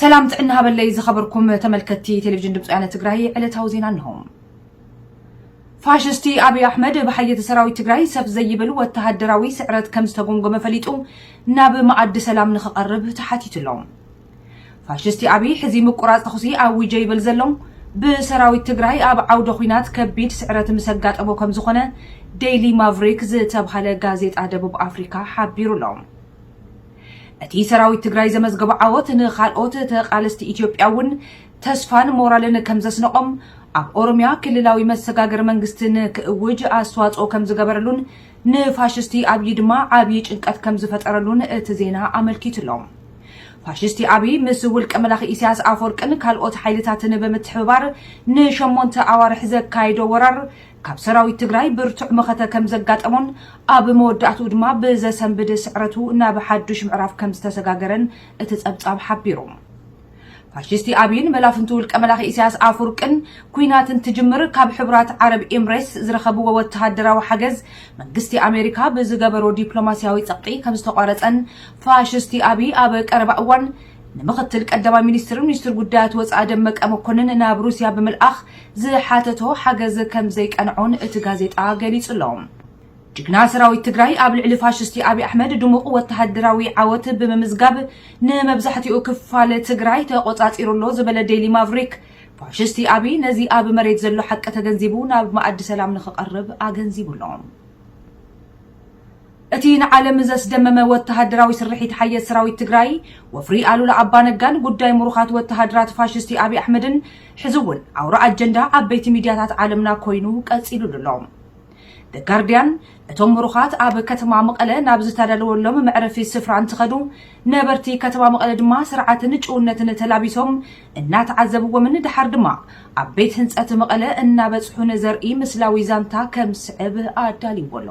ሰላም ጥዕና ሃበለይ ዝኸበርኩም ተመልከትቲ ቴሌቪዥን ድምፂ ወያነ ትግራይ ዕለታዊ ዜና እንሆ። ፋሽስቲ ኣብይ ኣሕመድ ብሓየተ ሰራዊት ትግራይ ሰፍ ዘይብል ወተሃደራዊ ስዕረት ከም ዝተጎምጎመ ፈሊጡ ናብ መኣዲ ሰላም ንክቐርብ ተሓቲቱ ኣሎ። ፋሽስቲ ኣብይ ሕዚ ምቁራፅ ተኹሲ ኣዊጀ ይብል ዘሎ ብሰራዊት ትግራይ ኣብ ዓውደ ኹናት ከቢድ ስዕረት ምስ ኣጋጠሞ ከም ዝኾነ ዴይሊ ማቭሪክ ዝተብሃለ ጋዜጣ ደቡብ ኣፍሪካ ሓቢሩ ኣሎ። እቲ ሰራዊት ትግራይ ዘመዝገቦ ዓወት ንኻልኦት ተቓለስቲ ኢትዮጵያ እውን ተስፋን ሞራልን ከምዘስነቖም ኣብ ኦሮሚያ ክልላዊ መሰጋገሪ መንግስቲ ንክእውጅ ኣስተዋፅኦ ከምዝገበረሉን ንፋሽስቲ ኣብዪ ድማ ዓብዪ ጭንቀት ከምዝፈጠረሉን እቲ ዜና ኣመልኪቱ ኣሎ። ፋሽስቲ ኣብይ ምስ ውልቀ መላኺ ኢሳያስ ኣፈወርቅን ካልኦት ሓይልታትን ብምትሕብባር ንሸሞንተ ኣዋርሕ ዘካየዶ ወራር ካብ ሰራዊት ትግራይ ብርቱዕ መኸተ ከም ዘጋጠሞን ኣብ መወዳእትኡ ድማ ብዘሰንብድ ስዕረቱ ናብ ሓዱሽ ምዕራፍ ከም ዝተሰጋገረን እቲ ጸብጻብ ሓቢሩ። ፋሽስቲ ኣብይን መላፍንቱ ውልቀ መላኺ ኢሳያስ ኣፍውርቅን ኩናት እንትጅምር ካብ ሕቡራት ዓረብ ኤምሬትስ ዝረኸብዎ ወተሃደራዊ ሓገዝ መንግስቲ ኣሜሪካ ብዝገበሮ ዲፕሎማስያዊ ጸቕጢ ከም ዝተቋረጸን ፋሽስቲ ኣብይ ኣብ ቀረባ እዋን ንምኽትል ቀዳማይ ሚኒስትርን ሚኒስትር ጉዳያት ወጻኢ ደመቀ መኮንን ናብ ሩስያ ብምልኣኽ ዝሓተቶ ሓገዝ ከም ዘይቀንዖን እቲ ጋዜጣ ገሊጹ ኣሎ። ጅግና ሰራዊት ትግራይ ኣብ ልዕሊ ፋሽስቲ ኣብይ ኣሕመድ ድሙቕ ወተሃደራዊ ዓወት ብምምዝጋብ ንመብዛሕትኡ ክፋል ትግራይ ተቖጻጺሩ ኣሎ ዝበለ ዴይሊ ማቭሪክ፣ ፋሽስቲ ኣብይ ነዚ ኣብ መሬት ዘሎ ሓቂ ተገንዚቡ ናብ መኣዲ ሰላም ንኽቐርብ ኣገንዚቡ ኣሎ። እቲ ንዓለም ዘስደመመ ወተሃደራዊ ስርሒት ሓየት ሰራዊት ትግራይ፣ ወፍሪ ኣሉላ ኣባነጋን ጉዳይ ምሩኻት ወተሃደራት ፋሽስቲ ኣብይ ኣሕመድን ሕዚ እውን ኣውራ ኣጀንዳ ዓበይቲ ሚድያታት ዓለምና ኮይኑ ቀፂሉሉ ኣሎ። The Guardian፣ እቶም ምሩኻት ኣብ ከተማ መቐለ ናብ ዝተዳለወሎም መዕረፊ ስፍራ እንትኸዱ፣ ነበርቲ ከተማ መቐለ ድማ ስርዓትን ጭውነትን ተላቢሶም እናተዓዘብዎምን ደሓር ድማ ኣብ ቤት ህንፀት መቐለ እናበፅሑን ዘርኢ ምስላዊ ዛንታ ከም ዝስዕብ ኣዳልይዎ ኣሎ።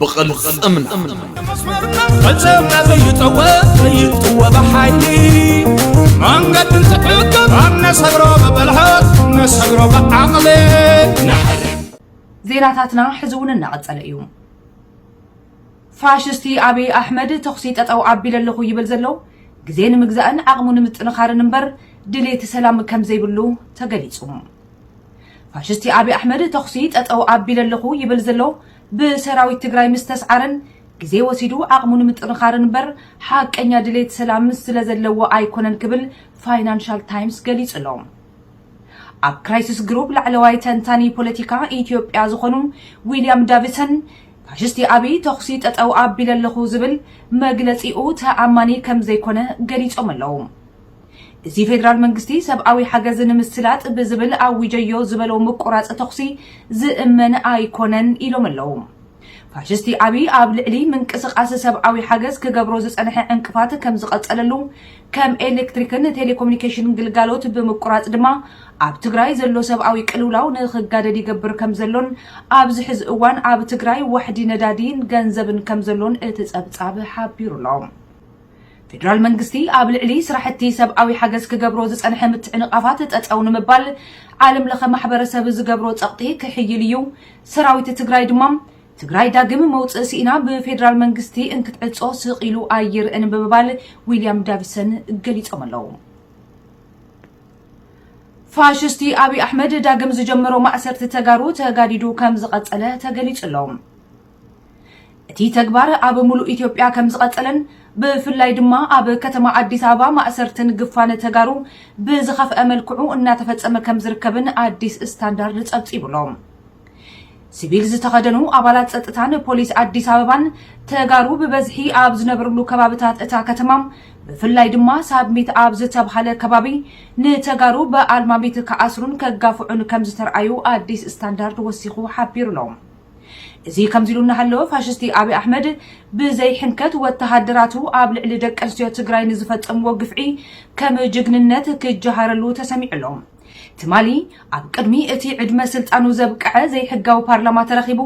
ብቕልፅምና ፈፀምና ዘይጠወ ዘይጥወ ብሓይሊ መንገዲ እንትዕቅብ ኣብ ነሰግሮ ብብልሃት ነሰግሮ ብዓቕሊ ዜናታትና ሕዚ እውን እናቐፀለ እዩ ፋሽስቲ ኣብይ ኣሕመድ ተኹሲ ጠጠው ኣቢለ ኣለኹ ይብል ዘሎ ግዜ ንምግዛእን ዓቕሙ ንምጥንኻርን እምበር ድሌት ሰላም ከም ዘይብሉ ተገሊጹ ፋሽስቲ ኣብይ ኣሕመድ ተኹሲ ጠጠው ኣቢለ ኣለኹ ይብል ዘሎ ብሰራዊት ትግራይ ምስተስዓረን ግዜ ወሲዱ ዓቕሙ ንምጥንኻርን እምበር ሓቀኛ ድሌት ሰላም ስለዘለዎ ኣይኮነን ክብል ፋይናንሻል ታይምስ ገሊጹ ኣሎ። ኣብ ክራይሲስ ግሩፕ ላዕለዋይ ተንታኒ ፖለቲካ ኢትዮጵያ ዝኾኑ ዊልያም ዳቪሰን ፋሽስቲ ኣብይ ተኹሲ ጠጠው ኣቢለ ኣለኹ ዝብል መግለጺኡ ተኣማኒ ከምዘይኮነ ገሊጾም ኣለው። እዚ ፌደራል መንግስቲ ሰብኣዊ ሓገዝ ንምስላጥ ብዝብል ኣዊጀዮ ዝበሎ ምቁራፅ ተኹሲ ዝእመን ኣይኮነን ኢሎም ኣለው። ፋሽስቲ ኣብይ ኣብ ልዕሊ ምንቅስቓስ ሰብኣዊ ሓገዝ ክገብሮ ዝፀንሐ ዕንቅፋት ከምዝቐፀለሉ ከም ኤሌክትሪክን ቴሌኮሙኒኬሽን ግልጋሎት ብምቁራፅ ድማ ኣብ ትግራይ ዘሎ ሰብኣዊ ቅልውላው ንኽጋደድ ይገብር ከምዘሎን ኣብዚ ሕዚ እዋን ኣብ ትግራይ ዋሕዲ ነዳዲን ገንዘብን ከምዘሎን እቲ ፀብፃብ ሓቢሩ ኣሎ። ፌደራል መንግስቲ ኣብ ልዕሊ ስራሕቲ ሰብኣዊ ሓገዝ ክገብሮ ዝፀንሐ ምትዕንቓፋት ጠጠው ንምባል ዓለም ለኸ ማሕበረሰብ ዝገብሮ ፀቕጢ ክሕይል እዩ፣ ሰራዊት ትግራይ ድማ ትግራይ ዳግም መውፅኢ ስኢና ብፌደራል መንግስቲ እንክትዕፆ ስቕ ኢሉ ኣይርእን ብምባል ዊልያም ዳቪሰን ገሊፆም ኣለው። ፋሽስቲ ኣብይ ኣሕመድ ዳግም ዝጀመሮ ማእሰርቲ ተጋሩ ተጋዲዱ ከምዝቐፀለ ተገሊፁ ኣሎ። እቲ ተግባር ኣብ ሙሉእ ኢትዮጵያ ከምዝቐፀለን ብፍላይ ድማ ኣብ ከተማ ኣዲስ ኣበባ ማእሰርትን ግፋን ተጋሩ ብዝኸፍኣ መልክዑ እናተፈፀመ ከምዝርከብን ኣዲስ ስታንዳርድ ፀብፂቡ ኣሎ። ሲቪል ዝተኸደኑ ኣባላት ፀጥታን ፖሊስ ኣዲስ ኣበባን ተጋሩ ብበዝሒ ኣብ ዝነብርሉ ከባብታት እታ ከተማ ብፍላይ ድማ ሳብሚት ኣብ ዝተብሃለ ከባቢ ንተጋሩ ብኣልማሚት ክኣስሩን ከጋፍዑን ከምዝተርኣዩ ኣዲስ ስታንዳርድ ወሲኹ ሓቢሩ ኣሎ። እዚ ከምዚ ኢሉ እናሃለወ ፋሽስቲ ኣብይ ኣሕመድ ብዘይሕንከት ወተሃደራቱ ኣብ ልዕሊ ደቂ ኣንስትዮ ትግራይ ንዝፈፀምዎ ግፍዒ ከም ጅግንነት ክጀሃረሉ ተሰሚዑ ኣሎ። ትማሊ ኣብ ቅድሚ እቲ ዕድመ ስልጣኑ ዘብቀዐ ዘይሕጋዊ ፓርላማ ተረኺቡ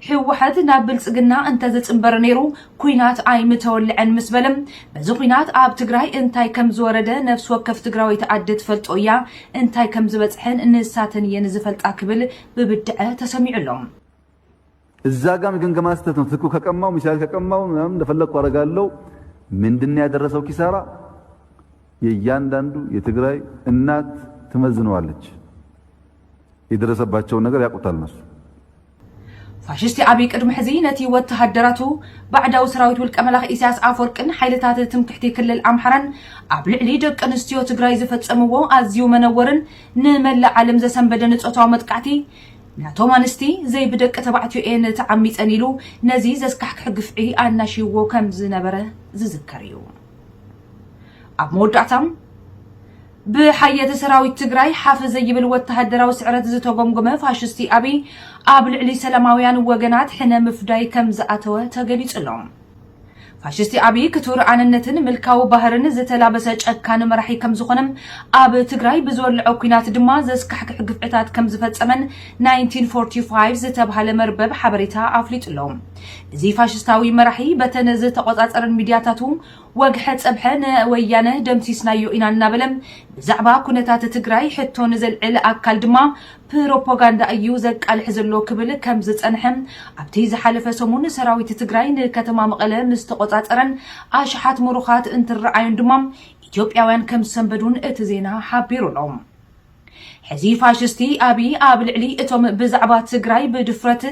ህወሓት ናብ ብልፅግና እንተዝፅምበር ነይሩ ኩናት ኣይምተወለዐን ምስ በለ በዚ ኩናት ኣብ ትግራይ እንታይ ከም ዝወረደ ነፍሲ ወከፍ ትግራወይቲ ኣደ ትፈልጦ እያ እንታይ ከም ዝበፅሐን ንሳተን እየን ዝፈልጣ ክብል ብብድዐ ተሰሚዑ ኣሎ። እዛ ጋር ገምገማ ስህተት ነው ትክክል ከቀማው ሚሳኤል ከቀማው ምናምን እንደፈለግኩ አደርጋለሁ ምንድነው ያደረሰው ኪሳራ የእያንዳንዱ የትግራይ እናት ትመዝነዋለች የደረሰባቸውን ነገር ያውቁታል እነሱ ፋሽስቲ ኣብይ ቅድሚ ሕዚ ነቲ ወተሃደራቱ ባዕዳዊ ሰራዊት ውልቀ መላኽ ኢሳያስ ኣፈወርቅን ሓይልታት ትምክሕቲ ክልል ኣምሓራን ኣብ ልዕሊ ደቂ ኣንስትዮ ትግራይ ዝፈጸምዎ ኣዝዩ መነወርን ንመላእ ዓለም ዘሰንበደ ንጾታዊ መጥቃዕቲ ናቶም ኣንስቲ ዘይብደቂ ተባዕትዮ እየን ተዓሚጸን ኢሉ ነዚ ዘስካሕክሕ ግፍዒ ኣናሽይዎ ከም ዝነበረ ዝዝከር እዩ። ኣብ መወዳእታ ብሓየተ ሰራዊት ትግራይ ሓፍ ዘይብል ወተሃደራዊ ስዕረት ዝተጎምጎመ ፋሽስቲ ኣብይ ኣብ ልዕሊ ሰላማውያን ወገናት ሕነ ምፍዳይ ከም ዝኣተወ ተገሊጹ ኣሎ። ፋሽስቲ ኣብይ ክቱር ኣነነትን ምልካዊ ባህርን ዝተላበሰ ጨካን መራሒ ከምዝኾነ ኣብ ትግራይ ብዝወለዖ ኩናት ድማ ዘስካሕክሕ ግፍዕታት ከምዝፈፀመን 1945 ዝተብሃለ መርበብ ሓበሬታ ኣፍሊጡ ኣሎ። እዚ ፋሽስታዊ መራሒ በተን ዝተቆፃፀረን ሚድያታቱ ወግሐ ፀብሐ ንወያነ ደምሲስናዮ ኢና እናበለ ብዛዕባ ኩነታት ትግራይ ሕቶ ንዘልዕል ኣካል ድማ ፕሮፓጋንዳ እዩ ዘቃልሕ ዘሎ ክብል ከም ዝጸንሐ፣ ኣብቲ ዝሓለፈ ሰሙን ሰራዊት ትግራይ ንከተማ መቐለ ምስ ተቖጻጸረን ኣሽሓት ምሩኻት እንትረኣዩን ድማ ኢትዮጵያውያን ከም ዝሰንበዱን እቲ ዜና ሓቢሩ ኣሎ። ሕዚ ፋሽስቲ ኣብይ ኣብ ልዕሊ እቶም ብዛዕባ ትግራይ ብድፍረት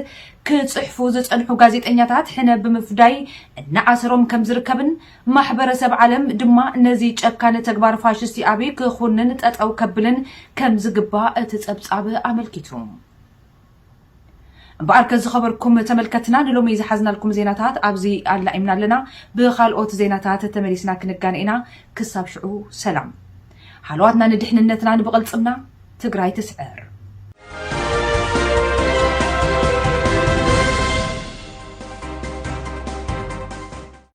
ክጽሕፉ ዝጸንሑ ጋዜጠኛታት ሕነ ብምፍዳይ እናኣሰሮም ከም ዝርከብን፣ ማሕበረሰብ ዓለም ድማ ነዚ ጨካን ተግባር ፋሽስቲ ኣብይ ክኹንን ጠጠው ከብልን ከምዝግባእ እቲ ፀብፃብ ኣመልኪቱ። እምበኣርከ ዝኸበርኩም ተመልከትና ንሎሚ ዝሓዝናልኩም ዜናታት ኣብዚ ኣላኢምና ኣለና። ብኻልኦት ዜናታት ተመሊስና ክንጋነ ኢና። ክሳብ ሽዑ ሰላም። ሃለዋትና ንድሕንነትናን ብቕልፅምና ትግራይ ትስዕር!